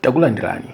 takulandirani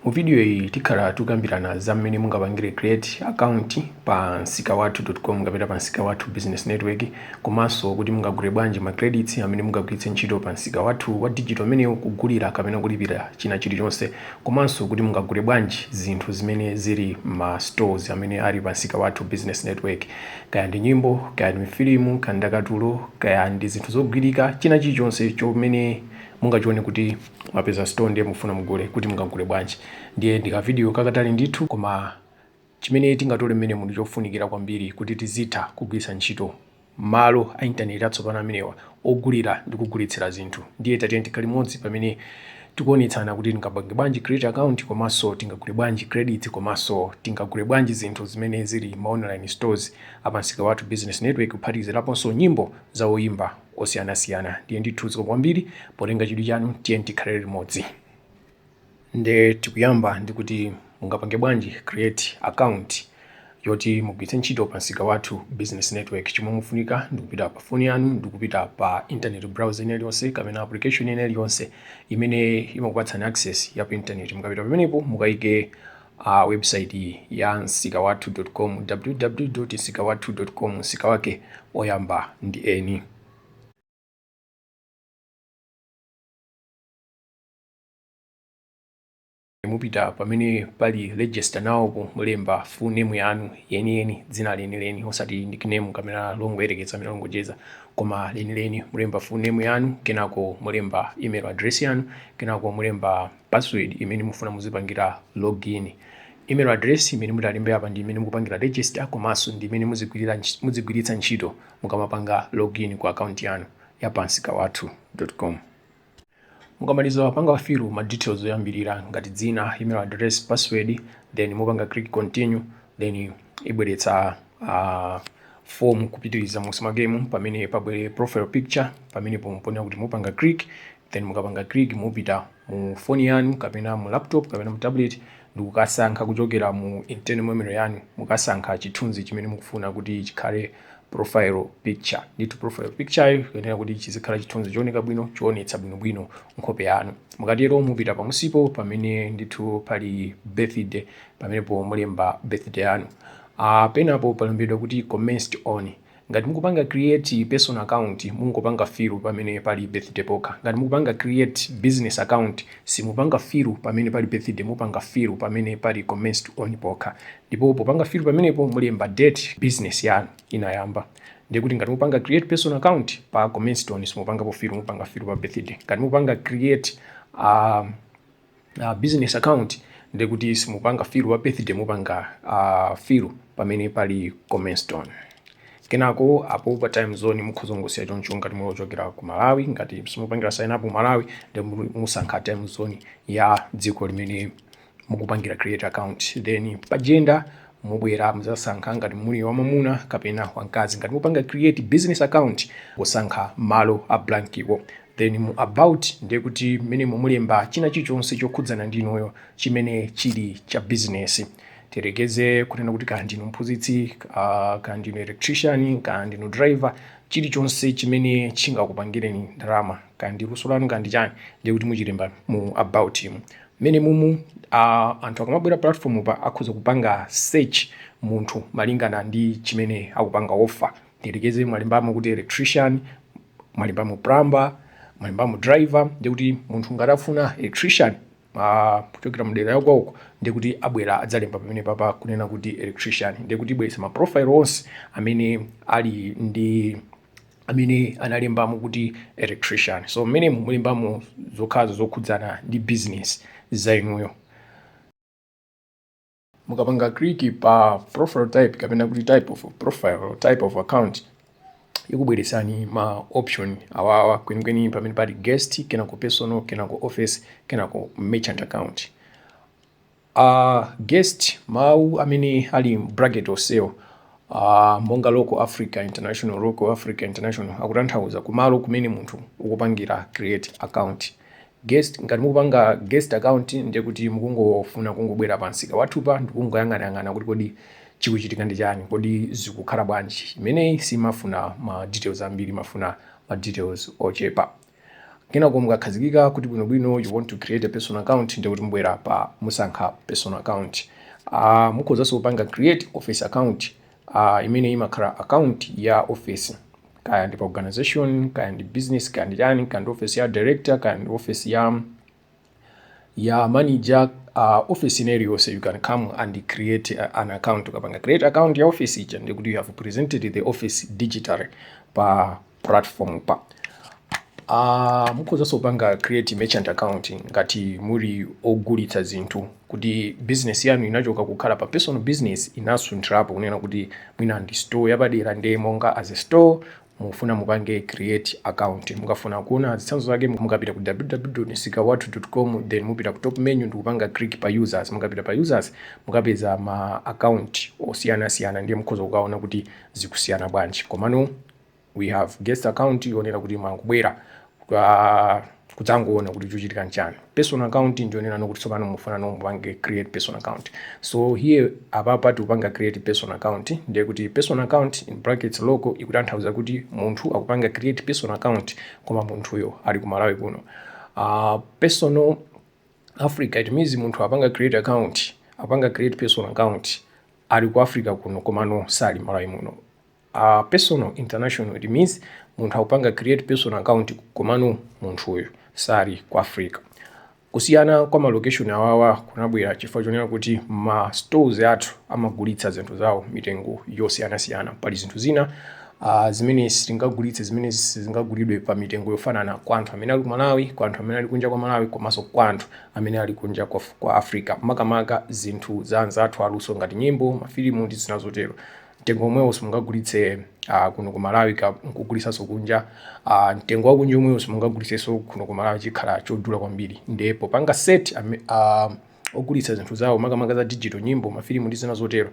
mu video iyi tikhala tikukambirana za mmene mungapangire create account pa nsikawathu.com kapena pa nsika wathu business network komanso kuti mungagule bwanji ma credits amene mungagwiritse ntchito pa nsika wathu wa digital umenewu kugulira kapena kulipira china chilichonse komanso kuti mungagule bwanji zinthu zimene zili m'ma stores amene ali pa nsika wathu business network Kaya ndi nyimbo, kaya ndi mafilimu, kaya ndakatulo, kaya ndi zinthu zogwirika, china chilichonse chomene mungachione kuti mwapeza store ndiye mukufuna mugule kuti mungagule bwanji. Ndiye ndi ka video kakatali ndithu koma chimene tingatole mmenemu ndi chofunikira kwambiri kuti tizitha kugwiritsa ntchito malo a internet atsopano amenewa ogulira ndi kugulitsira zinthu ndiye tatiyeni tikhale limodzi pamene tikuonetsana kuti tingapange bwanji create account komanso tingagule bwanji credit komanso tingagule bwanji zinthu zimene zili m'ma online stores a pa nsika wathu business network kuphatikiziraponso nyimbo za oyimba osiyanasiyana ndiye ndithu zikomo kwambiri potenga chidwi chanu tiyeni tikhale limodzi Nde tikuyamba ndi kuti mungapange bwanji create account yoti mugwiritse ntchito pa nsika wathu business network. Chomwe mufunika ndikupita pa phone yanu ndikupita pa internet browser ina iliyonse kapena application ina iliyonse imene imakupatsani access ya pa internet. Mukapita pamenepo mukaike uh, website iyi ya nsikawathu.com www.nsikawathu.com nsika wake oyamba ndi N mupita pamene pali register now-po mulemba full name yanu yeniyeni dzina lenileni osati nickname kapena longoyerekeza kapena longocheza koma lenileni mulemba full name yanu kenako mulemba email address yanu kenako mulemba password imene mufuna muzipangira login email address imene mutalembere apa ndi imene mukupangira register komanso ndi imene muzigwiritsa ntchito mukamapanga login ku account yanu ya pa nsikawathu.com Mukamaliza kupanga fill ma details oyambirira ngati dzina, email address, password then mupanga click continue then ibweretsa uh, form kupitiriza munsi mwakemu pamene pabwere profile picture pamene pamene mukuyenera kuti mupanga click then mukapanga click mupita mu phone yanu kapena mu laptop kapena mu tablet ndikukasankha kuchokera mu internal memory yanu mukasankha chithunzi chimene mukufuna kuti chikhale profile picture ndithu profile picture ikuyenera kuti chizikhala chithunzi chooneka bwino choonetsa bwinobwino nkhope yanu mukatero mupita pamunsipo pamene ndithu pali birthday pamenepo mulemba birthday yanu uh, penapo palembedwa kuti commenced on ngati mukupanga create personal account mungopanga fill pamene pali birthday pokha ngati mukupanga create business account simupanga fill pamene pali birthday mupanga fill pamene pali commenced on pokha Ndipo popanga fill pamenepo mulemba date business yanu inayamba. Ndiye kuti ngati mupanga create personal account pa commenced on simupangapo fill, mupanga fill pa birthday. Ngati mupanga create uh, uh, business account ndiye kuti simupanga fill pa birthday, mupanga uh, fill pamene pali commenced on. Kenako apo pa time zone mukhoza kungosiya choncho ngati muli ochokera ku Malawi. Ngati simupangira sign up Malawi, ndiye musankha time zone ya dziko limene mukupangira create account then pa gender mubwera muzasankha ngati muli wamwamuna kapena wamkazi ngati mupanga create business account musankha malo a blankiwo then mu about ndiye kuti mmenemu mulemba china chilichonse chokhudzana ndi inuyo chimene chili cha business tiyerekeze kunena kuti kaya ndinu mphunzitsi uh, kaya ndinu electrician kaya ndinu driver chilichonse chimene chingakupangireni ndalama kaya ndi luso lanu kaya ndi chani ndiye kuti muchilemba mu about mu Mmenemumu anthu akamabwera platform pa akhoza kupanga search munthu malingana ndi chimene akupanga offer. Tiyerekeze mwalembamo kuti electrician, mwalembamo plumber, mwalembamo driver ndiye kuti munthu ngati afuna electrician kuchokera mdera ya kwawoko ndiye kuti abwera adzalemba pamene papa kunena kuti electrician ndiye kuti ibweresa ma profile onse amene ali ndi amene analembamo kuti electrician so mmenemu mulembamo zokhazo zokhudzana ndi business za inuyo mukapanga click pa profile type kapena kuti type of profile type of account ikubweretsani ma option awawa kwenikweni pamene pali guest kenako personal kenako office kenako merchant account Guest mawu amene ali mu bracket onsewo a monga local Africa international, local Africa international akutanthauza kumalo kumene munthu ukupangira create account. Guest ngati mukupanga guest account ndiye kuti mukungofuna kungobwera pa msika wathupa ndi kungoyang'anayang'ana kuti kodi chikuchitika ndi chani, kodi zikukhala bwanji. Imeneyi simafuna ma details ambiri, imafuna ma details ochepa. Kenako mukakhazikika kuti bwino bwino you want to create a personal account ndekuti mubwera pa musankha personal account. Uh, mukhozanso kupanga create office account uh, imene imakhala account ya office kaya ndi pa organization kaya ndi business kaya ndi chani kaya ndi office ya director kaya ndi office ya ya manager uh, office ina iliyonse you can come and create uh, an account ukapanga create account ya office ija ndiye kuti you have presented the office digitally pa platform pa uh, mukhozanso kupanga create merchant account ngati muli ogulitsa zinthu kuti business yanu inachoka kukhala pa personal business inasunthirapo kunena kuti mwina ndi store yapadera ndiye monga as a store Mukufuna mupange create account mukafuna kuona zitsanzo zake mukapita ku www.msikawathu com then mupita ku top menu ndikupanga click pa users mukapita pa users mukapeza ma account osiyana siyana ndiye mukhoza kukaona kuti zikusiyana bwanji komano we have guest account yonena kuti imangobwera kudzangoona kuti chochitika nchani personal account njonena kuti tsopano mufuna mumupange create personal account so here apapa tikupanga create personal account ndiye kuti personal account in brackets local ikutanthauza kuti munthu akupanga create personal account koma munthuyo ali ku malawi kuno uh, personal africa it means munthu apanga create account apanga create personal account ali ku africa kuno komano sali ku malawi muno a personal international it means munthu akupanga create personal account komano munthuyo sali ku africa kusiyana kwa malocation awawa kunabwera chifukwa chonena kuti ma stores athu amagulitsa zinthu zawo mitengo yosiyanasiyana pali zinthu zina uh, zimene sitingagulitse zimene sizingagulidwe pa mitengo yofanana kwa anthu amene ali ku malawi kwa anthu amene ali kunja kwa malawi komanso kwa anthu amene ali kunja kwa, kwa africa makamaka zinthu za anzathu aluso ngati nyimbo mafilimu ndi zina zotero mtengo omwewo simungagulitse uh, kuno ku malawi nkugulisanso kunja uh, mtengo wakunja omwewo simungagulisenso kuno ku malawi chikhala chodula kwambiri nde popanga set uh, ogulitsa zinthu zawo makamaka za digital nyimbo mafilimu ndi zina zotero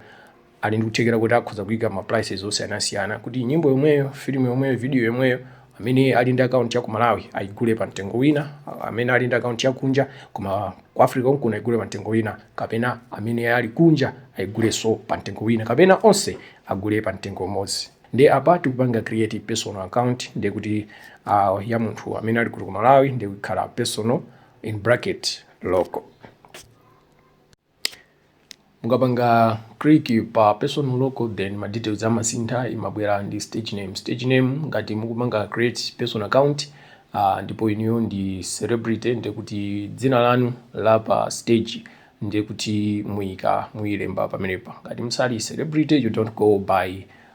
ali ndi kuthekera kuti akhoza kuyika ma prices osiyanasiyana kuti nyimbo yomweyo filimu yomweyo video yomweyo amene ali ndi akaunti ya ku malawi ayigule pa mtengo wina amene ali ndi akaunti ya kunja koma ku africa konkuno ayigule pa mtengo wina kapena amene ali kunja ayigulenso pa mtengo wina kapena onse agule pa mtengo umodzi nde apa tikupanga create personal account ndiye kuti uh, ya munthu amene ali kuno ku malawi ndi kukhala personal in bracket local mukapanga click pa personal local then ma details amasintha imabwera ndi stage name stage name ngati mukupanga create personal account uh, ndipo inuyo ndi celebrity ndiye kuti dzina lanu la pa stage ndiye kuti muyika muyilemba pamenepa ngati musali celebrity you don't go by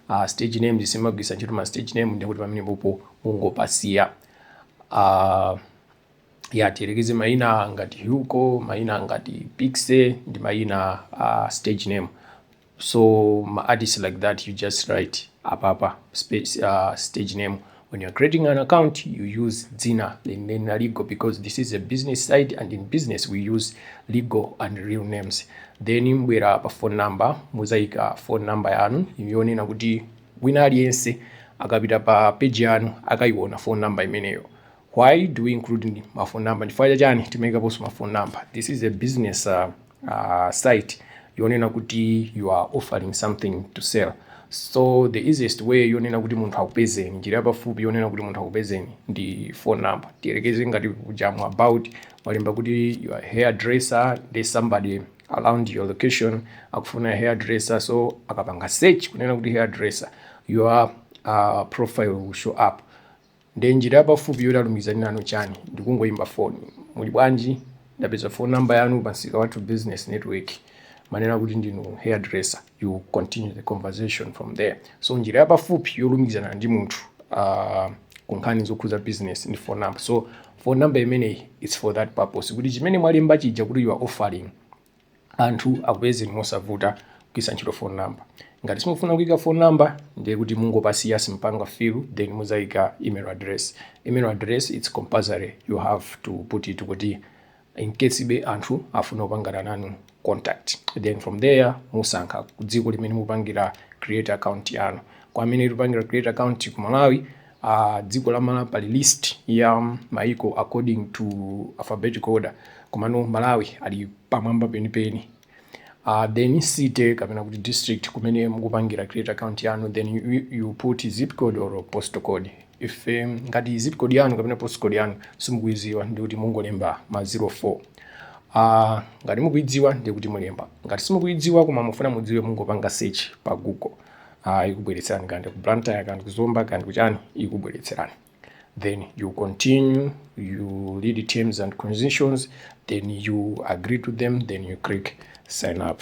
uh, stage name simugwiritsa ntchito ma stage name ndiye kuti pamenepopo mungopasiya uh, ya tiyerekeze mayina ngati Hugo, mayina ngati Piksy ndi mayina a uh, stage name so ma artists like that you just write apapa space, uh, stage name when you're creating an account you use dzina lenileni legal because this is a business site and in business we use legal and real names then mbwera pa phone number muzaika phone number yanu yonena kuti wina aliyense akapita pa page yanu akayiona phone number imeneyo why do we include ma phone number chifukwa cha chani timaikaponso ma phone number this is a business uh, uh, site yonena kuti you are offering something to sell so the easiest way yonena kuti munthu akupezeni njira yapafupi yonena kuti munthu akupezeni ndi phone number tiyerekeze ngati kujamu about mwalemba kuti you are hair dresser there's somebody around your location akufuna hair dresser so akapanga search kunena kuti hair dresser your uh, profile will show up Nde njira yapafupi yoti alumikizane nanu chani ndikungoimba foni muli bwanji ndapeza phone number yanu pa nsika wathu business network manena kuti ndinu hair dresser you continue the conversation from there so njira yapafupi yolumikizana ndi munthu uh, kunkhani zokhuza business ndi phone number so phone number imeneyi its for that purpose kuti chimene mwalemba chija kuti you are offering anthu akupezeni mosavuta kugwiritsa ntchito phone number. Ngati simukufuna kuika phone number ndiye kuti mungopasiya simpanga fill then muzaika email address. Email address it's compulsory you have to put it kuti in case be anthu afuna kupangana nanu contact then from there musankha dziko limene mupangira create account yanu. Kwa amene mupangira create account ku Malawi a dziko la mala pali list ya maiko according to alphabetical order komano malawi ali pamwamba penipeni uh, then city kapena kuti district kumene mukupangira create account yanu then you, you- you put zip code or postal code if um, ngati zip code yanu kapena postal code yanu simukuiziwa ndikuti mungolemba ma 0 4 Ah, ngati mukuidziwa ndikuti mulemba ngati simukuidziwa koma mufuna mudziwe mungopanga search pa google uh, ikubweretserani kandi ku blantyre kandi ku zomba kandi kuchani ikubweretserani then you continue you read terms and conditions then you agree to them then you click sign up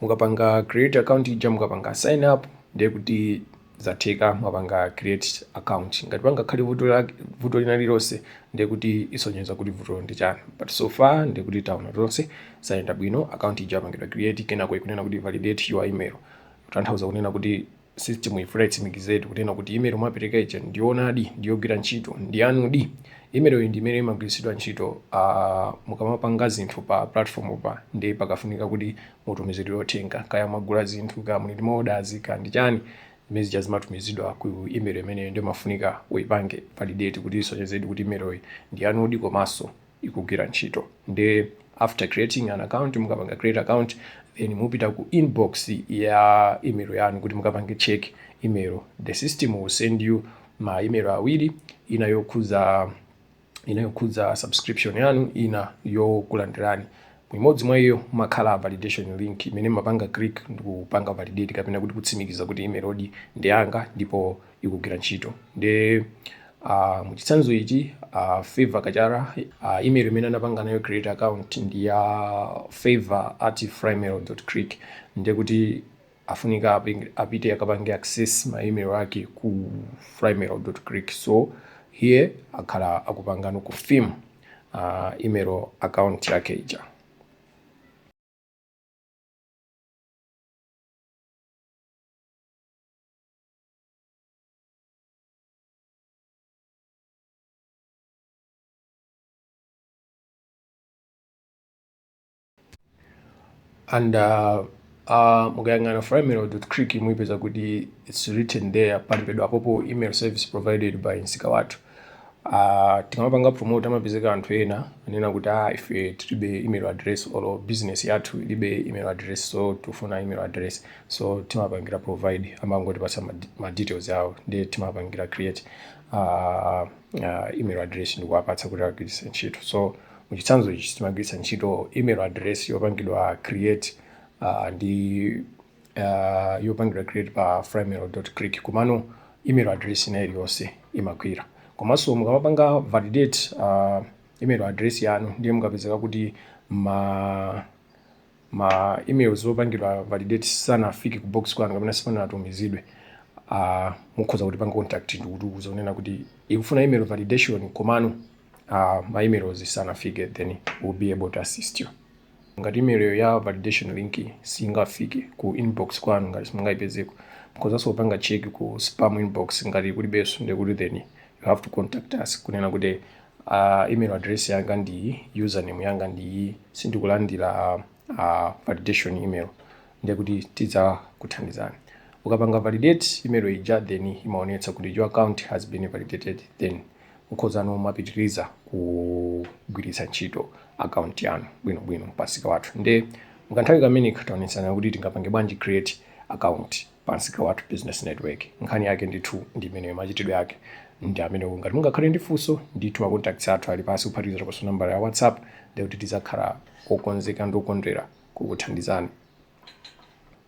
mukapanga create account ija mukapanga sign up ndiye kuti zatheka mwapanga create account ngati pangakhale vuto lake- vuto lina lilonse ndiye kuti isonyeza kuti vuto ndi chani but so far ndiye kuti taona tonse zayenda bwino account ija yapangidwa create kenako ikunena kuti validate your email kutanthauza kunena kuti system ifuna itsimikizedi kunena kuti email mwapereka ija ndiyoonadi ndiyogwira ntchito ndiyanudi email iyi ndi imene imagwiritsidwa ntchito uh, mukamapanga zinthu pa platform pa ndi pakafunika kuti mutumizidwe uthenga kaya mwagula zinthu kaya muli ndi ma orders kaya ndi chani zimene zija zimatumizidwa ku email imeneyo nde umafunika uipange validate kuti isonyezedi kuti email iyi ndiyanudi komanso ikugwira ntchito nde after creating an account mukapanga create account then mupita ku inbox ya email yanu kuti mukapange check email the system will send you ma email awiri ina yokhudza ina yokhudza subscription yanu ina yokulandirani mu imodzi mwa iyo mumakhala validation link imene mapanga click ndikupanga validate kapena kuti kutsimikiza kuti email-yodi ndi yanga ndipo ikugwira ntchito nde uh, muchitsanzo ichi uh, favor kachara uh, email imene anapanga nayo create account ndi ya uh, favor at frymail click nde kuti afunika aping- apite akapange access ma email ake ku frymail click so here akhala akupangano confirm uh, email account yake ija and uh, uh, mukayang'ana frymail dot click muipeza kuti its written there palembedwa apopo email service provided by msika wathu Uh, tikamapanga promote amapezeka anthu ena anena kuti ah, ife tilibe email address or business yathu ilibe email address so tifuna email address so timapangira provide amangotipatsa ma details awo ndiye timapangira create uh, uh, email address ndikuwapatsa kuti agwiritse ntchito so muchitsanzo ichi timagwiritsa ntchito email address yopangidwa create uh, ndi uh, yopangidwa create pa frymail click komano email address ina iliyonse imagwira komanso mukamapanga validate uh, email address yanu ndiye mukapezeka kuti ma ma emails opangidwa validate sanafike ku box kwanu kapena sipanatumizidwe uh, mukhoza kutipanga contact ndikutiuza kunena kuti ikufunika email validation komano uh, ma emails sanafike then we'll be able to assist you Ngati email ya validation link siingafike ku inbox kwanu ngati simungaipezeko mukhozaso kupanga check ku spam inbox ngati kulibeso ndekuti then you have to contact us kunena kuti uh, email address yanga ndiyi username yanga ndiyi sindikulandira uh, validation email ndekuti tidzakuthandizani ukapanga validate email ija then imaonetsa kuti your account has been validated then Mukhozano kumapitiriza kugwiritsa ntchito akaunti yanu bwinobwino pansika wathu nde mukanthawi kameneka taonetsana kuti tingapange bwanji create account pansika wathu business network nkhani yake ndithu ndi imeneyo machitidwe ake ndi amenewo ngati mungakhale ndi funso ndithu macontacts athu ali pansi kuphatikizakoso nambala ya whatsapp ndekuti tizakhala okonzeka ndi okondwera kukuthandizani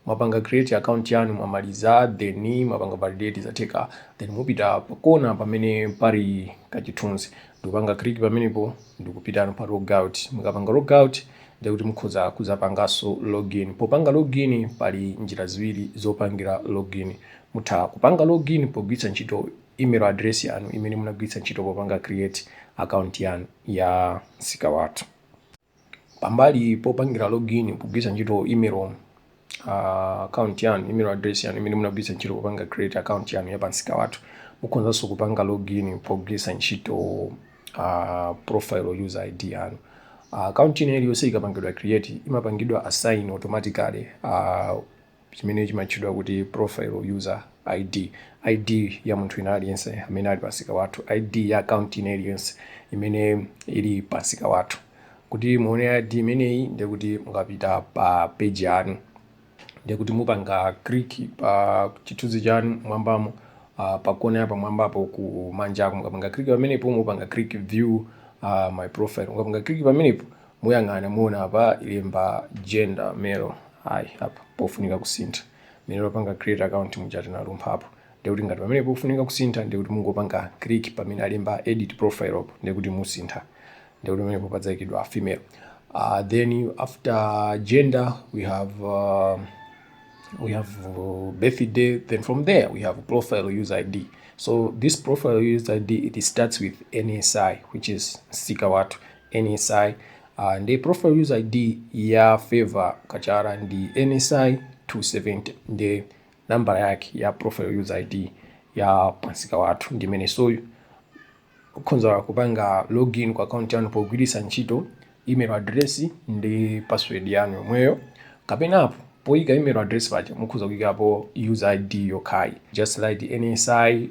mwapanga create account yanu mwamaliza then mwapanga validate zatheka then mupita pakona pamene pali kachithunzi ndikupanga click pamenepo ndikupitano pa logout mukapanga logout ndekuti mukhoza kuzapanganso login popanga login pali njira ziwiri zopangira login mutha kupanga login pogwiritsa ntchito email address yanu imene munagwiritsa ntchito popanga create account yanu ya msika wathu pambali popangira login pogwiritsa ntchito email uh, account yanu email address yanu imene munagwiritsa ntchito popanga create account yanu ya pamsika wathu mukhonzanso kupanga login pogwiritsa ntchito uh, profile user id yanu uh, account ina iliyonse ikapangidwa create imapangidwa assign automatically uh, chimene chimatchedwa kuti Profile User ID, ID ya munthu wina aliyense amene ali pamsika wathu, ID ya akaunti ina iliyonse imene ili pamsika wathu. Kuti muone ID imeneyi ndiye kuti mukapita pa peji yanu ndiye kuti mupanga click pa chithunzi chanu mwambamo uh, pa kona ya pamwambapo ku manjako mukapanga click pamenepo mupanga click view uh, my profile mukapanga click pamenepo muyang'ana muona apa alemba gender male ayi apa pofunika kusintha mmene timapanga create account muja tinalumphapo ndekuti ngati pamenepo pofunika kusintha ndekuti mungopanga click pamene alemba edit profile apo ndekuti musintha ndekuti pamenepo padzayikidwa female uh, then after gender we have uh, we have uh, birthday then from there we have profile user id so this profile user id it starts with nsi which is msika wathu NSI, uh, ndi profile user ID ya Favor Kachara ndi NSI 270 ndi nambala yake ya profile user ID ya pamsika wathu ndi imeneyo so mukhonza kupanga login ku account yanu pogwiritsa ntchito email address ndi password yanu yomweyo kapena apo poyika email address paja mukhonza kuyikapo user id yokhayi just write nsi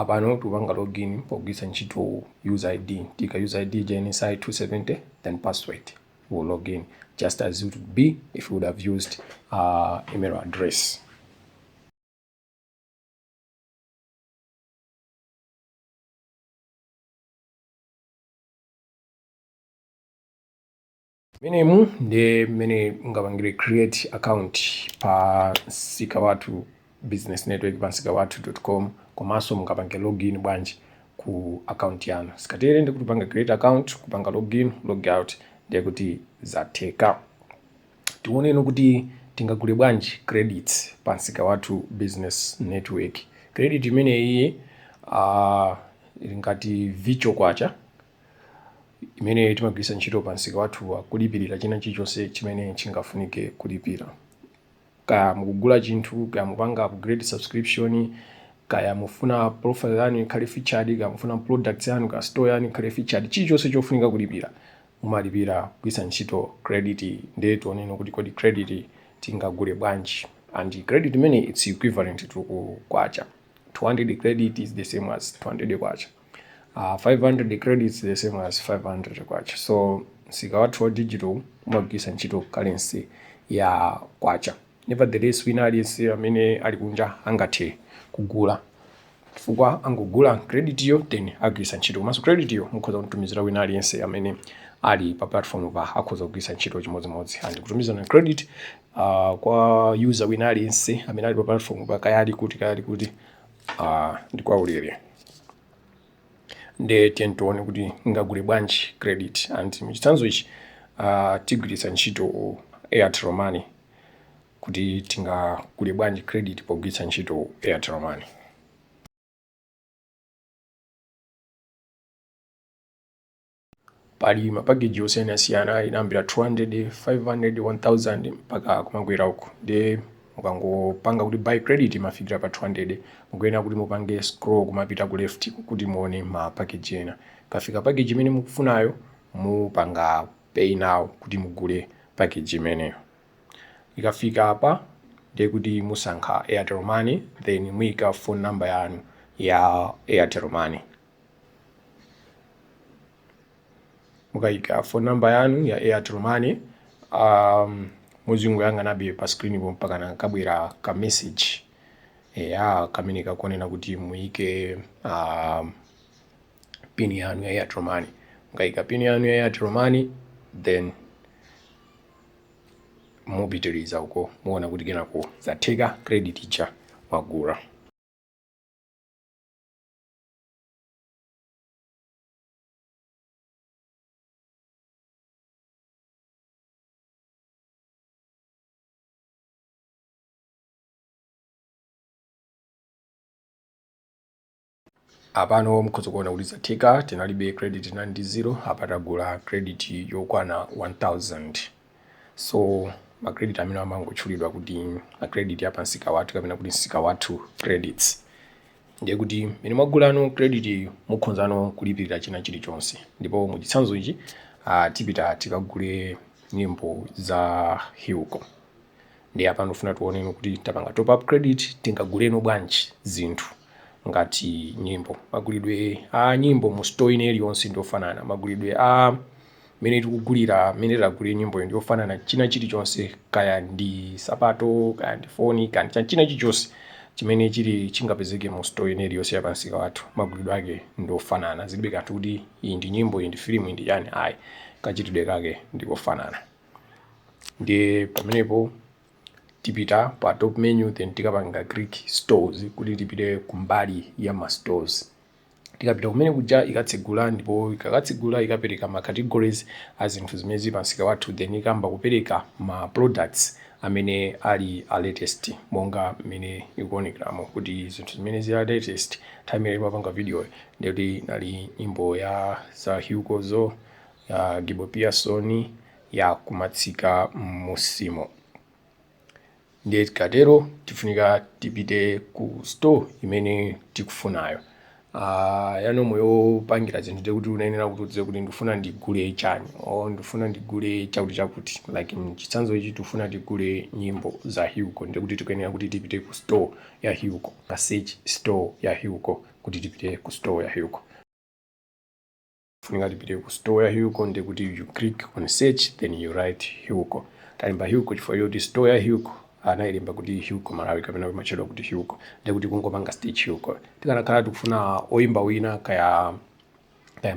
apano tikupanga login pogwiritsa ntchito user id tika user id ija NSI 270 then password will log in just as it would be if you would have used uh, email address mmenemu ndi mmene mungapangire create account pa msika wathu business network pa msika wathu dot com komanso mungapange login bwanji ku account yanu tikatere ndiye kuti kupanga create account kupanga login log out ndiye kuti zatheka tione no kuti tingagule bwanji credit pa msika wathu business network credit imeneyi uh, ili ngati virtual kwacha imene timagwiritsa ntchito pa msika wathu kulipirira china chilichonse chimene chingafunike kulipira kaya mukugula chinthu kaya mupanga upgrade subscription kaya mufuna profile yanu ikhale featured kaya mufuna products yanu kaya store yanu ikhale featured chilichonse chofunika kulipira mumalipira kugwiritsa ntchito credit ndiye tione no kuti kodi credit tingagule bwanji and credit imeneyi it's equivalent to kwacha 200 credit is the same as 200 kwacha Uh, ah, 500 credits the same as 500 kwacha so msika wathu wa digital umagwiritsa ntchito currency ya kwacha nevertheless wina aliyense amene ali kunja angathe kugula chifukwa angogula credit yo then agwiritsa ntchito komanso credit yo mukhoza kutumizira wina aliyense amene ali pa platform pa akhoza kugwiritsa ntchito chimodzimodzi and kutumizana credit uh, kwa user wina aliyense amene ali pa platform pa kaya ali kuti kaya ali kuti uh, ndi kwa ulere nde tiyeni tione kuti tingagule bwanji credit and muchitsanzo ichi uh, tigwiritsa ntchito airtel money kuti tingagule bwanji credit pogwiritsa ntchito airtel money pali ma package osiyanasiyana akuyambira 200 500 1000 mpaka kumakwera uko ndiye mukangopanga kuti buy credit mumafikira pa 200 mukuyenera kuti mupange scroll kumapita ku left kuti muone ma package ena mukafika package imene mukufunayo mupanga pay now kuti mugule package imeneyo ikafika apa ndiye kuti musankha airtel money then muyika phone number yanu ya airtel money mukayika phone number yanu ya airtel money um, muzingoyang'anabe pa screen po mpakana kabwera ka message eya kamene kakunena kuti muyike um, pin yanu ya airtel money mukayika pin yanu ya airtel money then mupitiriza uko muona kuti kenako zatheka credit ija mwagula apano mukhoza kuona kuti zatheka tinalibe credit tinali ndi zero apa tagula credit yokwana 1000 So ma credit amene amangotchulidwa kuti ma credit ya pansika wathu kapena kuti nsika wathu credits ndiye kuti mene mwagulano credit iyo mukhozano kulipirira china chilichonse ndipo mu chitsanzo ichi uh, tipita tikagule nyimbo za Hilco ndiye apa ndifuna tiwoneno kuti tapanga top up credit tingaguleno bwanji zinthu ngati nyimbo magulidwe a nyimbo mu store ina iliyonse ndi ofanana magulidwe a mmene tikugulira mmene tagulira nyimbo ndi ofanana china chilichonse kaya ndi sapato kaya ndi foni kaya ndi china chilichonse chimene chili chingapezeke mu store ina iliyonse ya pansika wathu magulidwe ake ndi ofanana zilibe kanthu kuti iyi ndi nyimbo iyi ndi filimu iyi ndi chani ayi kachitidwe kake ndi kofanana ndiye pamenepo tipita pa top menu then tikapanga click stores kuti tipite kumbali ya ma stores Tikapita kumene kuja ikatsegula ndipo ikakatsegula ikapereka ma categories a zinthu zimene zili pa msika wathu then ikayamba kupereka ma products amene ali a latest monga mmene ikuonekeramo kuti zinthu zimene zili a latest nthawi imene timapanga video ndi kuti inali nyimbo ya zaukozo ya Gibo Pearson ya kumatsika m'musimo. ndiye tikatero tifunika tipite ku store imene tikufunayo Ah, ya normal yopangira zinthu ndiye kuti unayenera kuti udziwe kuti ndifuna ndigule chani o ndifuna ndigule chakuti chakuti like mchitsanzo ichi tifuna tigule nyimbo za Hilco ndiye kuti tikuyenera kuti tipite ku store ya Hilco ka search store ya Hilco kuti tipite ku store ya Hilco Funika tipite ku store ya Hilco ndiye kuti you click on search then you write Hilco. Talemba Hilco chifukwa choti store ya Hilco anailemba kuti Hilco Malawi kapena imatchedwa kuti Hilco. Ndiye kuti kungopanga search Hilco. Tikanakhala tikufuna oyimba wina kaya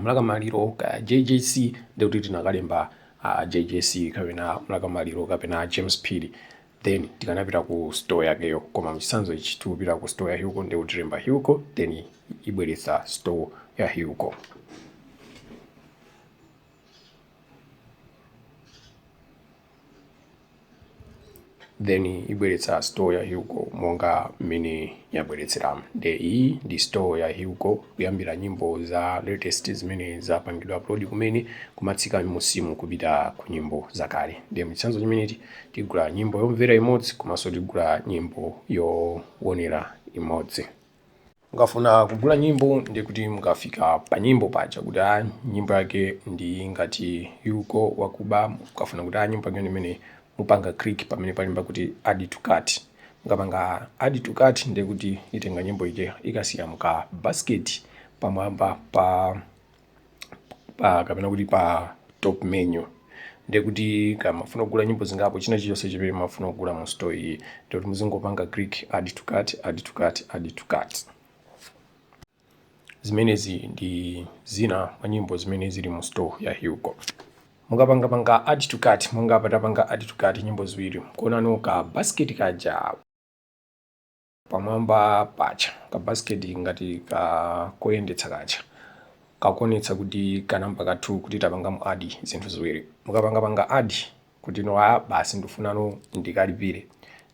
Mlaka Maliro kaya JJC ndiye kuti tinakalemba uh, JJC kapena Mlaka Maliro kapena James Phiri. then tikanapita ku store yakeyo koma mchitsanzo ichi tikupita ku store ya hilco nde kuti tilemba hilco then ibweretsa store ya hilco then ibweretsa store ya hilco monga mmene yabweretseramu nde iyi ndi store ya hilco kuyambira nyimbo za latest zimene zapangidwa upload kumene kumatsika musimu kupita ku nyimbo zakale nde mchitsanzo chimenechi tigula nyimbo yomvera imodzi komanso tigula nyimbo yowonera imodzi mukafuna kugula nyimbo ndi kuti mukafika pa nyimbo paja kuti a nyimbo yake ndi ngati Hilco wakuba mukafuna kuti a nyimbo yake imene mupanga click pamene palemba kuti add to cart mukapanga add to cart ndi kuti itenga nyimbo ija ikasiya muka basket pamwamba pa pa kapena kuti pa top menu ndiye kuti mukamafuna kugula nyimbo zingapo china chilichonse chimene mufuna kugula mu store iyi ndiye kuti muzingopanga click add to cart add to cart add to cart zimenezi ndi zina mwa nyimbo zimene zili mu store ya Hilco mukapanga panga add to cart monga apa tapanga add to cart nyimbo ziwiri kuonano ka basket kaja pamwamba paja kabasiketi ngati ka koyendetsa kaja kakuonetsa kuti kanamba ka two kuti tapanga mu add zinthu ziwiri mukapangapanga add kuti no a basi ndifunano ndikalipire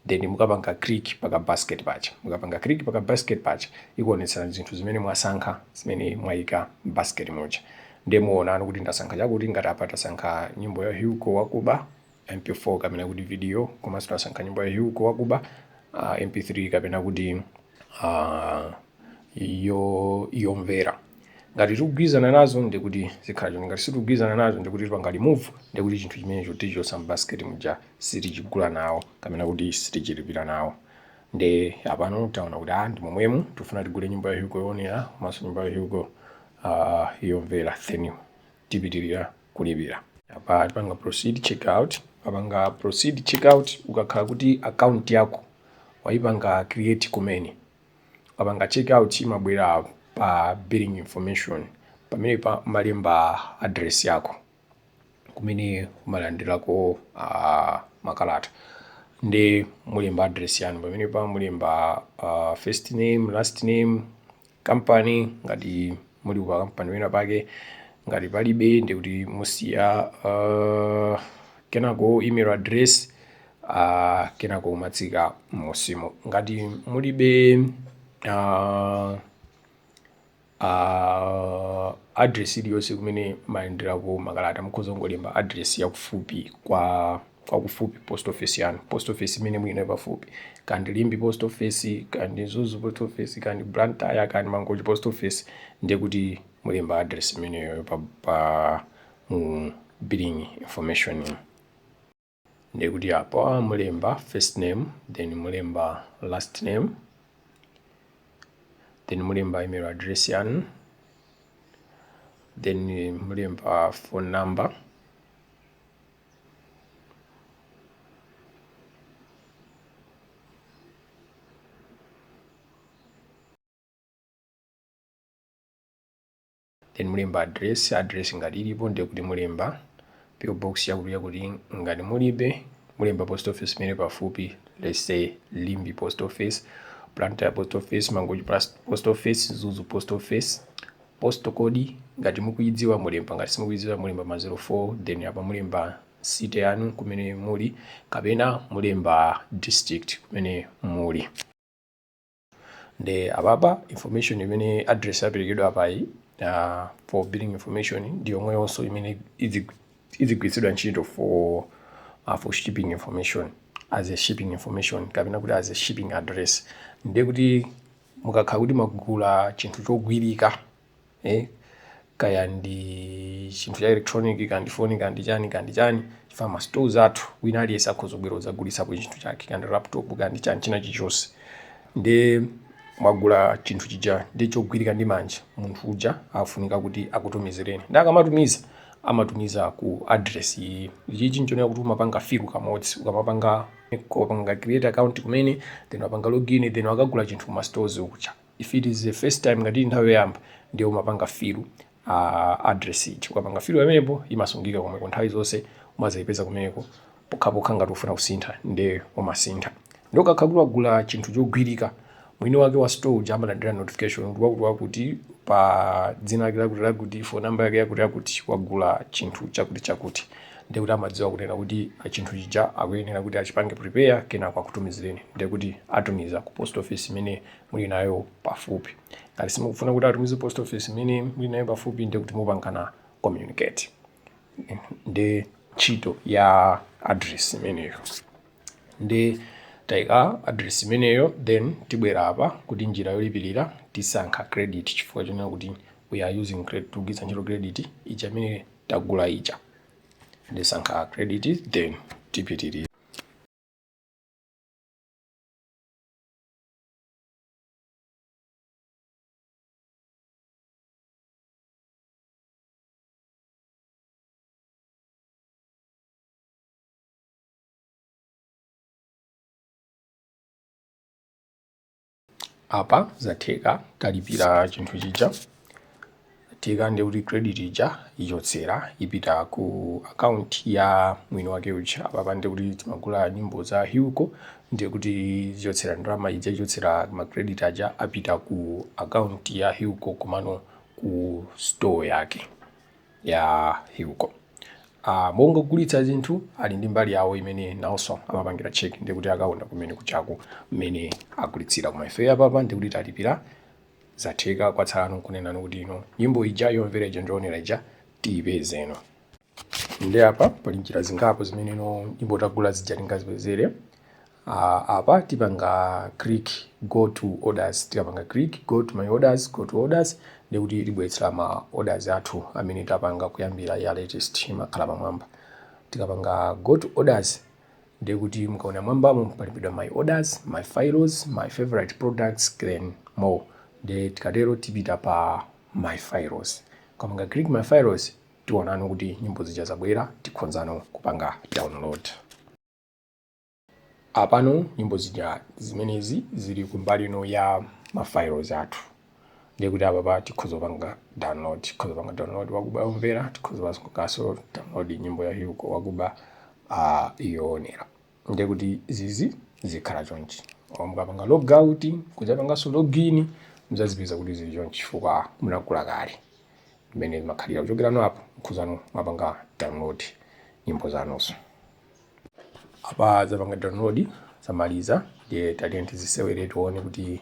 then mukapanga click paka basket paja mukapanga click paka basket paja ikuonetsani zinthu zimene mwasankha zimene mwayika basket muja ndiye muonano kuti ndasankha chakuti ngati apa tasankha nyimbo ya Hilco wakuba MP4 kapena kuti video komanso tasankha nyimbo ya Hugo Wakuba uh, MP3 kapena kuti uh, yo yomvera ngati tikugwirizana nazo ndi kuti zikhala choncho ngati sitikugwirizana nazo ndi kuti tipanga remove ndi kuti chinthu chimenecho tichotsa m'basket muja sitichigula nawo kapena kuti sitichilipira nawo ndi apano taona kuti ah ndi momwemu tifuna tigule nyimbo ya Hugo yoonera komanso nyimbo ya Hugo uh, yomvera then tipitilira kulipira. Apa tipanga proceed checkout. Ukapanga proceed checkout ukakhala kuti account yako waipanga create kumene, ukapanga checkout imabwera pa billing information pamene umalemba address yako kumene umalandirako uh, makalata nde mulemba address yanu pamene pa mulemba uh, first name last name kampani, ngati muli ku kampani ina yake, ngati palibe ndi kuti musiya uh, kenako email address uh, kenako umatsika m'musimu ngati mulibe uh, uh, address iliyonse kumene mumalandirako makalata mukhoza kungolemba address yakufupi kwa kwakufupi post office yanu post office imene muli nayo pafupi kaya ndi limbe post office kaya ndi mzuzu post office kaya ndi blantyre kaya ndi mangochi post office ndiye kuti mulemba address imeneyo pa, pa mu billing information ino ndiye kuti apo mulemba first name then mulemba last name then mulemba email address yanu then mulemba phone number then mulemba address address ngati ilipo ndiye kuti mulemba PO box yakuti yakuti ngati mulibe mulemba post office imene pafupi let's say limbe post office blantyre post office mangochi post office mzuzu post office Postal code ngati mukuyidziwa mulemba ngati simukuyidziwa mulemba ma zero four then apa mulemba city yanu kumene muli kapena mulemba district kumene muli nde apapa information imene address yaperekedwa apayi uh, for billing information ndi yomweyonso imene idzigwiritsidwa ntchito for uh, for shipping information as a shipping information kapena kuti as a shipping address ndiye kuti Mukakhala kuti mwagula chinthu chogwirika, eh, kaya ndi chinthu cha electronic, kaya ndi phone, kaya ndi chani, kaya ndi chani, chifukwa ma stores athu wina aliyense akhoza kubwera kudzagulisapo chinthu chake, kaya ndi laptop, kaya ndi chani china chilichonse. Nde mwagula chinthu chija ndi chogwirika ndi manja, munthu uja afunika kuti akutumizireni. Nde akamatumiza, amatumiza ku address iyi. Ichichi nchonena kuti umapanga fill kamodzi, ukamapanga. kupanga create account kumene then wapanga login then wakagula chinthu kuma stores kuja if it is the first time ngati ili nthawi yoyamba ndiye umapanga fill uh, address ija ukapanga fill pamenepo imasungika komweko nthawi zonse umazayipeza kumeneko pokhapokha ngati ufuna kusintha ndiye umasintha nde ukakhala kuti wagula chinthu chogwirika Mwini wake wa store uja amalandira notification kuti wakuti wakuti pa dzina lake lakuti lakuti phone number yake yakuti yakuti wagula chinthu chakuti chakuti ndiye kuti amadziwa kunena kuti chinthu chija akuyenera kuti achipange prepare kenako akutumizireni ndiye kuti atumiza ku post office imene muli nayo pafupi ngati simukufuna kuti atumize post office imene muli nayo pafupi ndiye kuti mupangana communicate ndi ntchito ya address imeneyo nde taika address imeneyo then tibwera apa kuti njira yolipirira tisankha credit chifukwa chonena kuti we are using credit tugwiritsa ntchito credit ija imene tagula ija ndisankha credit then tipitirira apa zatheka talipira chinthu chija zatheka ndi kuti credit ija ichotsera ipita ku account ya mwini wake uja apapa ndi kuti timagula nyimbo za Hilco ndi kuti zichotsera ndalama ija ichotsera ma credit aja apita ku account ya Hilco komano ku store yake ya Hilco. Uh, monga ogulitsa zinthu ali ndi mbali yawo imene nawonso amapangira check ndi kuti akaona kumene kujako mmene agulitsira koma ife apapa ndi kuti talipira zatheka kwatsala nkunena kuti ino nyimbo ija yomvera ija ndi yoonera ija tiyipezeno Nde apa pali njira zingapo zimene no nyimbo tagula zija tingazipezere. Uh, apa tipanga click go to orders, tikapanga click go to my orders, go to orders ndi kuti itibweretsera ma orders athu amene tapanga kuyambira ya latest imakhala pamwamba. Tikapanga go to orders ndi kuti mukaona mwambamo palembedwa my orders, my files, my favorite products then more. Nde tikatero tipita pa my files. Tikapanga click my files Tionano kuti nyimbo zija zabwera tikhozano kupanga download. Apano nyimbo zija zimenezi zili kumbali ino ya ma files athu. Ndiye kuti apapa tikhoza kupanga download, tikhoza kupanga download wakuba yomvera, tikhoza kupanga kanso download nyimbo ya Hugo wakuba uh, yoonera. ndiye kuti zizi zikhala chonchi or mukapanga logout kudzapanganso login mudzazipeza kuti zili chonchi chifukwa munagula kale mmene zimakhalira kuchokera no apo mukhozano mwapanga download nyimbo zanuzo apa zapanga download zamaliza ndiye tatiyeni tizisewere tione kuti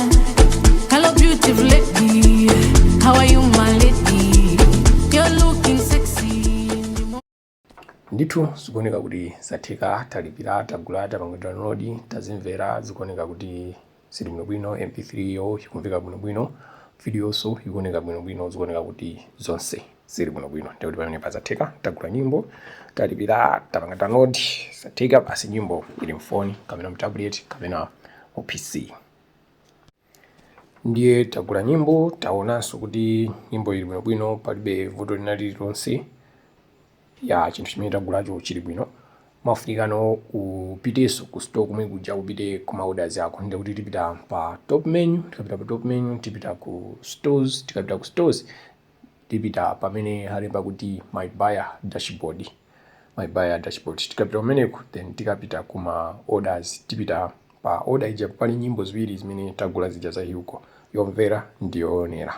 Hello, beautiful lady. How are you, my lady? You're looking sexy. ndithu zikuoneka kuti zatheka talipira tagula tapanga download tazimvera zikuoneka kuti zili bwinobwino mp3 yo ikumveka bwinobwino videonso ikuoneka bwinobwino zikuoneka kuti zonse zili bwinobwino ndiye kuti pamenepa zatheka tagula nyimbo talipira tapanga download zatheka basi nyimbo ili mfoni kapena mtablet kapena mu pc ndiye tagula nyimbo taonanso kuti nyimbo ili bwinobwino palibe vuto lina lililonse ya chinthu chimene tagulacho chili bwino mafunikano upitenso ku store komwe kuja upite ku maorders ako ndiye kuti tipita pa top menu tikapita pa top menu tipita ku stores tikapita ku stores tipita pamene alemba kuti my buyer dashboard my buyer dashboard tikapita kumeneko then tikapita kuma orders tipita pa order ija pali nyimbo ziwiri zimene tagula zija za Hugo yomvera ndi yoonera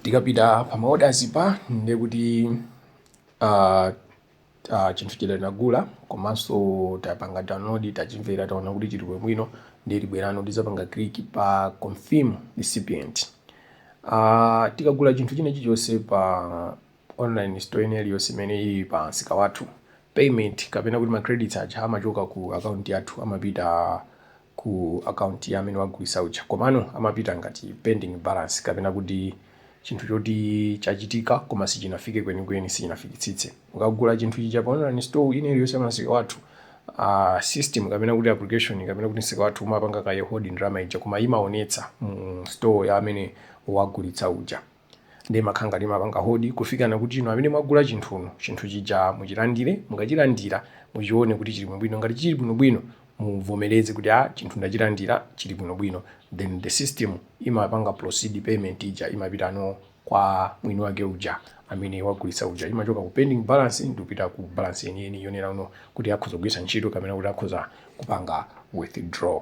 tikapita pa maorders pa ndiye kuti ah, ah, chinthu chija tinagula komanso tapanga download tachimvera taona kuti chili bwino ndiye tibwerano tidzapanga click pa confirm recipient Ah, tikagula chinthu china chilichonse pa online store ina iliyonse imene ili pa msika wathu payment kapena kuti ma credits aja amachoka ku account yathu amapita ku account ya amene wagulitsa uja komano amapita ngati pending balance kapena kuti chinthu choti chachitika koma sichinafike kwenikweni sichinafikitsitse ukagula chinthu chija pa online store ina iliyonse ya msika wathu uh, system kapena kuti application kapena kuti msika wathu umapanga kaye hold ndalama ija koma imaonetsa mu store ya amene wagulitsa uja Nde imakhala ngati imapanga hold kufikana kuti inu amene mwagula chinthu chinthu chija muchilandile mukachilandila muchione kuti chili bwinobwino ngati chili bwinobwino muvomeleze kuti aa chinthu ndachilandila chili bwinobwino then the system imapanga proceed payment ija imapitano kwa mwini wake uja amene wagulitsa uja imachoka ku pending balance ndikupita ku balance yeniyeni yonena uno kuti akhoza kugwiritsa ntchito kapena kuti akhoza kupanga withdraw.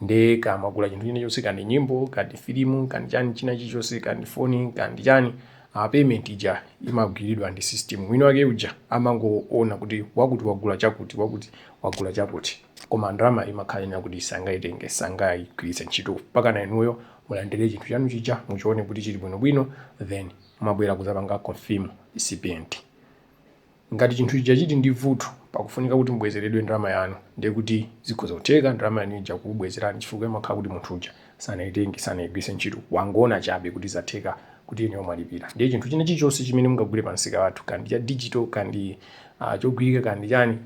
nde kaya mwagula chinthu china chonse kaya ndi nyimbo kaya ndi filimu kaya ndi chani china chilichonse kaya ndi foni kaya ndi chani a payment ija imagwiridwa ndi system mwini wake uja amangoona kuti wakuti wagula chakuti wakuti wagula chakuti koma ndalama imakhala ili kuti sangaitenge sangaigwiritse ntchito mpakana inuyo mulandire chinthu chanu chija muchione kuti chili bwinobwino then mumabwera kuzapanga confirm receipt Ngati chinthu chija chili ndi vuto pakufunika kuti mubwezeredwe ndalama yanu, ndiye kuti zikhoza kutheka ndalama yanu ija kukubwezerani chifukwa imakhala kuti munthu uja sanaitenge, sanaigwiritse ntchito, wangoona chabe kuti zatheka kuti inuyo mwalipira. Ndiye chinthu china chilichonse chimene mungagule pamsika wathu, kaya ndi cha digital, kaya ndi chogwirika, kaya ndi chani,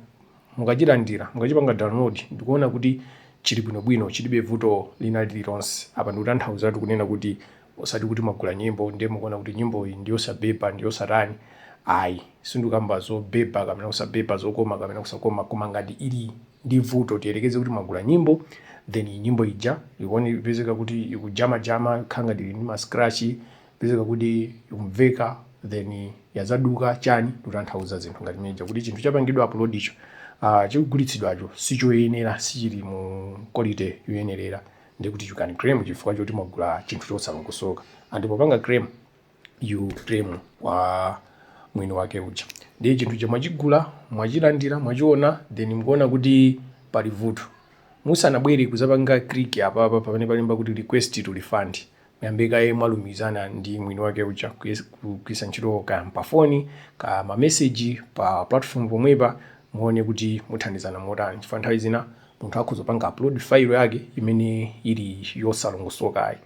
mukachilandira, mukachipanga download ndikuona kuti chili bwinobwino, chilibe vuto lina lililonse, apa ndikutanthauzatu kunena kuti osati kuti mwagula nyimbo ndiye mukuona kuti nyimboyi ndiyosabhebha ndiyosatani ayi sindikamba zobhebha kapena kusabhebha zokoma kapena kusakoma koma ngati ili ndi vuto tiyerekeze kuti mwagula nyimbo then nyimbo ija ikupezeka kuti ikujamajama ikukhala ngati ili ndi mascratch ikupezeka kuti ikumveka then yadzaduka chani tikutanthauza zinthu ngati zimene zija kuti chinthu chapangidwa uploadicho uh, chikugulitsidwacho sichoyenera sichili mu quality yoyenerera ndiye kuti you can claim chifukwa choti mwagula chinthu chosalongosoka and popanga claim you claim kwa mwini wake uja ndiye chinthu chija mwachigula mwachilandira mwachiona then mukuona kuti pali vuto musanabwere kuzapanga click apapa pamene palemba kuti request to refund Muyambe kaye mwalumikizana ndi mwini wake uja kugwiritsa ntchito kaya pafoni kaya mameseji pa platform pomwepa muone kuti muthandizana motani chifukwa nthawi zina munthu akhoza kupanga upload file yake imene ili yosalongosokayi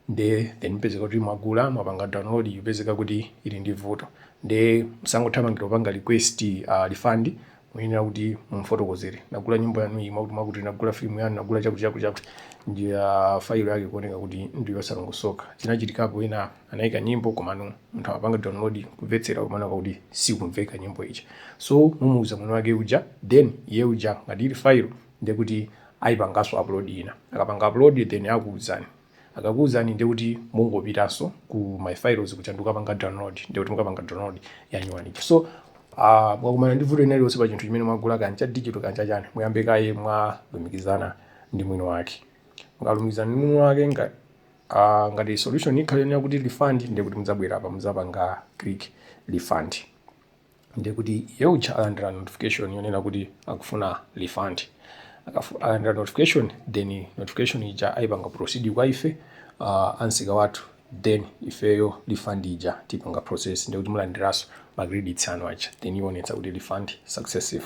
nde then mpezeka kuti mwagula mwapanga download ikupezeka kuti ili ndi vuto nde musangothamangira kupanga request uh, refund Muyenera kuti mumfotokozere, Ndagula nyimbo yanu iyi mwakuti mwakuti, ndagula filimu yanu, ndagula chakuti chakuti chakuti. Nde fayilo yake ikuoneka kuti ndi yosalongosoka. Zinachitikapo ena anaika nyimbo komano anthu amapanga download kumvetsera komano kuti sikumveka nyimbo ija. So mumuuza mwini wake uja then iye uja ngati ili fayilo ndiye kuti aipanganso upload ina. Akapanga upload then akuuzani. Akakuuzani ndiye kuti mungopitanso ku my files kuja ndikukapanga download ndiye kuti mukapanga download yanyuwani ija. So ah, mwakumana ndi vuto lina lililonse pa chinthu chimene mwagula kaya cha digital kaya cha chani, muyambe kaye mwalumikizana ndi mwini wake. Mukalumikizana ndi mwini wake nga ah, ngati solution ikhale yonena kuti refund ndiye kuti mudzabwera apa mudzapanga click refund. ndiye kuti iye uja alandira notification yonena kuti akufuna refund Akafu- alandira notification then notification ija ayipanga proceed kwa ife uh, ansika wathu then ifeyo refund ija tipanga process ndiye kuti mulandiranso ma credits anu aja then ionetsa kuti refund successful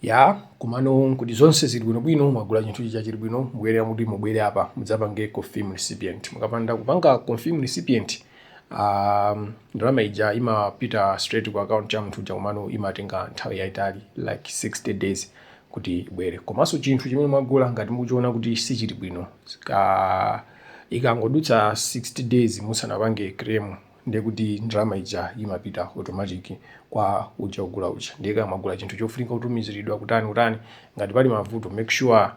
Yaa komano kuti zonse zili bwino bwino mwagula chinthu chija chili bwino mukuyenera kuti mubwere apa mudzapange confirm recipient mukapanda kupanga confirm recipient um, ndalama ija imapita straight ku account ya munthu uja komano imatenga nthawi yaitali like 60 days kuti ibwere komanso chinthu chimene mwagula ngati mukuchiona kuti sichili bwino ka ikangodutsa 60 days musanapange claim ndiye kuti ndalama ija imapita automatic kwa uja ogula uja ndiye kaya mwagula chinthu chofunika kutumiziridwa kutani kutani ngati pali mavuto make sure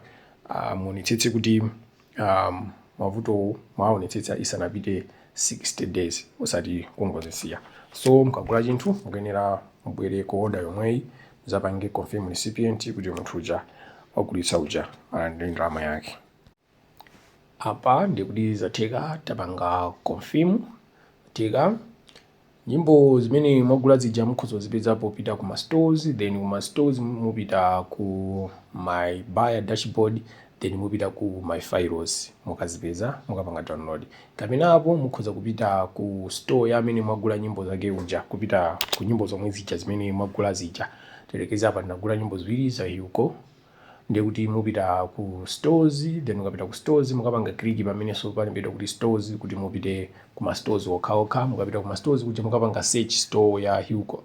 uh, muonetsetse kuti um, mavutowo mwaonetsetsa isanapite 60 days osati kungozisiya so mukagula chinthu mukuyenera mubwere ku order yomweyi muzapange confirm recipient kuti munthu uja wagulitsa uja alandire ndalama yake apa ndikuti zatheka tapanga confirm tika nyimbo zimene mwagula zija mukhoza kuzipeza popita ku ma stores then ku ma stores mupita ku my buyer dashboard then mupita ku my files mukazipeza mukapanga download kapena apo mukhoza kupita ku store ya amene mwagula nyimbo zake uja kupita ku nyimbo zomwe zija zimene mwagula zija tiyerekeze apa ndinagula nyimbo ziwiri za hugo ndiye kuti mupita ku stores then mukapita ku stores mukapanga click pamenenso palembedwa kuti stores kuti mupite ku ma stores okhaokha mukapita ku ma stores kuja mukapanga search store ya hugo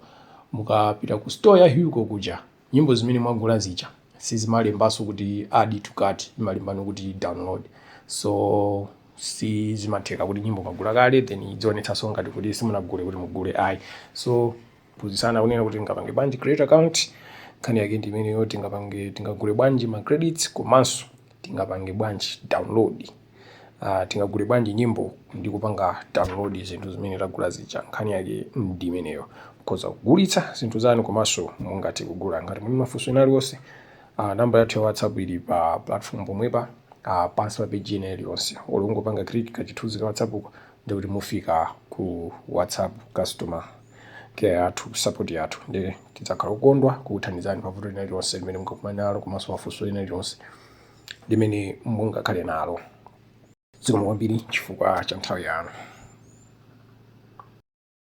mukapita ku store ya hugo kuja nyimbo zimene mwagula zija sizimalembanso kuti add to cart imalembano kuti download so si zimatheka kuti nyimbo mwagula kale then idzionetsanso ngati kuti simunagule kuti mugule ayi so Phunzitsana kunena kuti tingapange bwanji create account, nkhani yake ndi imeneyo tingapange tingagule bwanji ma credits komanso tingapange bwanji download uh, tingagule bwanji nyimbo ndi kupanga download zinthu zimene tagula zija nkhani yake ndi imeneyo mukhoza kugulitsa zinthu zanu komanso mungathe kugula ngati muli ndi mafunso ena aliwonse uh, namba yathu ya whatsapp ili pa platform pomwepa uh, pansi pa page ina iliyonse olongopanga click kachithunzi ka whatsapp uko ndikuti mufika ku whatsapp customer care yathu, support yathu. Ndiye tidzakhala okondwa kukuthandizani pa vuto lina lililonse limene mungakumane nalo komanso funso lina lililonse limene mungakhale nalo. Zikomo kwambiri chifukwa cha nthawi yanu.